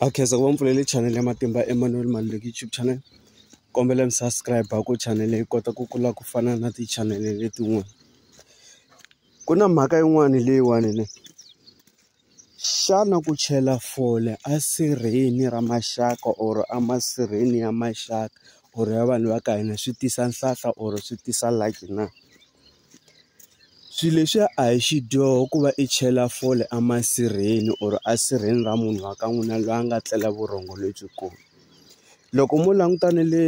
a khensa ku va mpfulele channel ya matimba Emmanuel Maluleki YouTube channel kombela mi subscribe ku channel yi kota ku kula ku fana na ti-channel letin'wana ku na mhaka yin'wani leyiwani ne xana ku chela fole a sirheni ra maxaka or a masirheni ya maxaka or ya vanhu va ka hina swi tisa nhlahla or swi tisa lucky na. Swilo leswiya a hi xidyoho ku va i chela fole a masirheni or a sirheni ra munhu wa ka n'wina loyi a nga tlela vurhongo lebyikulu loko mo languta na le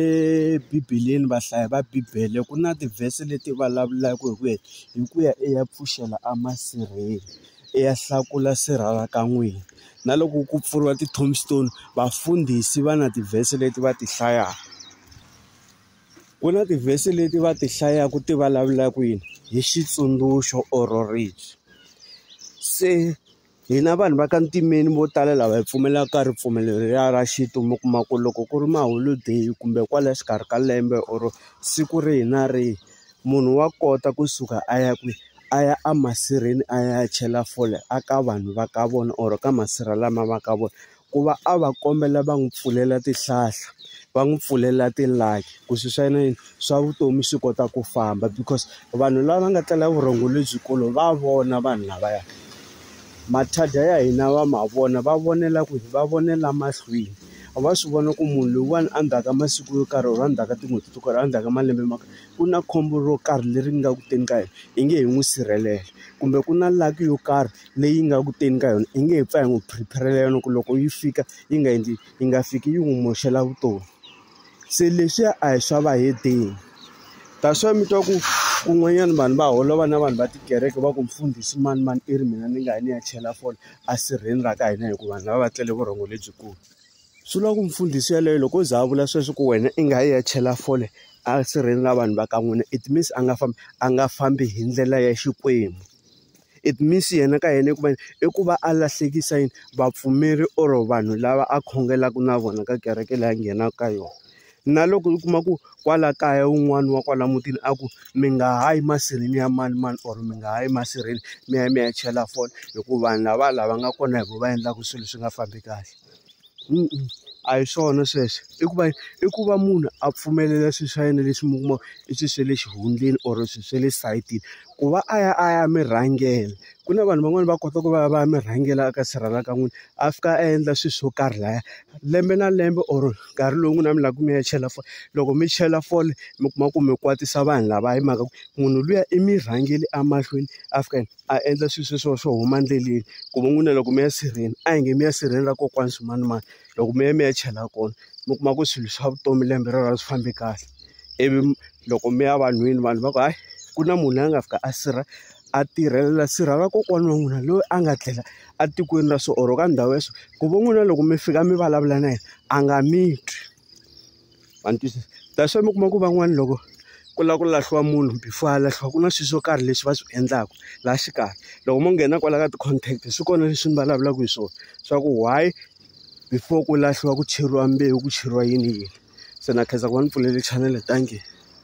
bibeleni vahlayi va bibele ku na tivhese leti vulavulaka hi ku ya hi ku ya i ya pfuxela a masirheni i ya hlakula sirha ra ka n'wina na loko ku pfuriwa ti-tombstone vafundhisi va na tivhese leti va ti hlayaka. ku na tivhesi leti va ti hlayaku ti vulavula ku yini hi xitsundzuxo or ribye se hina vanhu va ka ntimeni vo tala lava hi pfumelaka ka ripfumelo leriya ra xintu mi kuma ku loko ku ri maholodeyi kumbe kwala xikarhi ka lembe or siku rihi na rihi munhu wa kota kusuka a ya kwihi a ya a masirheni a ya chela fole a ka vanhu va ka vona or ka masirha lama va ka vona. ku va a va kombela va n'wi pfulela tihlahla va n'wi pfulela ti-lucky ku swi swa yena yini swa vutomi swi kota ku famba because vanhu lava nga tlela vurhongo lebyikulu va vona vanhu lavaya mathada ya hina va ma vona va vonela ku va vonela mahlweni a va swi vona ku munhu loyiwani a ndzhaka masiku yo karhi or a ndzhaka tin'hweti to karhi a ndzhaka malembe ma karhi ku na khombo ro karhi leri nga ku teni ka yena hi nge he n'wi sirhelela kumbe ku na lucky yo karhi. leyi nga ku teni ka yona i nge he pfa hi n'wi prepare-rela yona ku loko yi fika yi nga endli yi nga fiki yi n'wi moxela vutomi se leswiya a hi swa vahedeni that's why mi twa ku kun'wanyana vanhu va holova na vanhu va tikereke va ku mfundhisi mani mani i ri mina ni nga ya ni ya chela fole a sirheni ra ka hina hikuva vanhu lava va tlele vurhongo lebyikulu swi lava ku mfundhisi yeleyo loko o za a vula sweswo ku wena i nga yi ya chela fole a sirheni ra vanhu va ka n'wina it means a nga fambi a nga fambi hi ndlela ya xikwembu. It means yena ka yena i ku va yini? I ku va a lahlekisa yini vapfumeri or vanhu lava a khongelaka na vona ka kereke leyi a nghenaka ka yona. Na loko u kuma ku kwala kaya un'wana wa kwala mutini a ku, mi nga ha yi masirheni ya manimani or mi nga ha yi masirheni mi ya mi ya chela fole hikuva vanhu lavaya lava nga kona hi vona va endlaka swilo swi nga fambi kahle. a hi swona sweswo i ku va i ku va munhu a pfumelela swilo swa yena leswi mi kuma i swilo swa le xihundleni or swilo swa le sayitini ku va a ya a ya mi rhangela ku na vanhu van'wani va kota ku va va ya mi rhangela eka sirhala ka n'wina a fika a endla swilo swo karhi laya lembe na lembe or nkarhi lowu n'wina mi lava ku mi ya chela fole loko mi chela fole mi kuma ku mi kwatisa vanhu lava hi mhaka ku munhu luya i mi rhangele emahlweni a fika . a endla swilo sweswo swo huma endleleni ku va n'wina loko mi ya sirheni a hi nge mi ya sirheni ra kokwani swimanimani loko mi ya mi ya chela kona mi kuma ku swilo swa vutomi lembe rero a swi fambi kahle ivi loko mi ya vanhwini vanhu va ku hayi ku na munhu la nga fika a sirha a tirhelela sirha ra kokwana wa n'wina loyi a nga tlela etikweni ra so or ka ndhawu ya so ku va n'wina loko mi fika mi vulavula na yena a nga mi twi. va ni twisisa that's why mi kuma ku van'wani loko ku lava ku lahliwa munhu before a lahliwa ku na swilo swo karhi leswi va swi endlaka laha xikarhi loko mo nghena kwala ka ti-contact swi kona leswi ni vulavulaka hi swona swa ku why before ku lahliwa ku cheriwa mbewu ku cheriwa yini yini se na khensa ku va ni pfulele chanele thank you.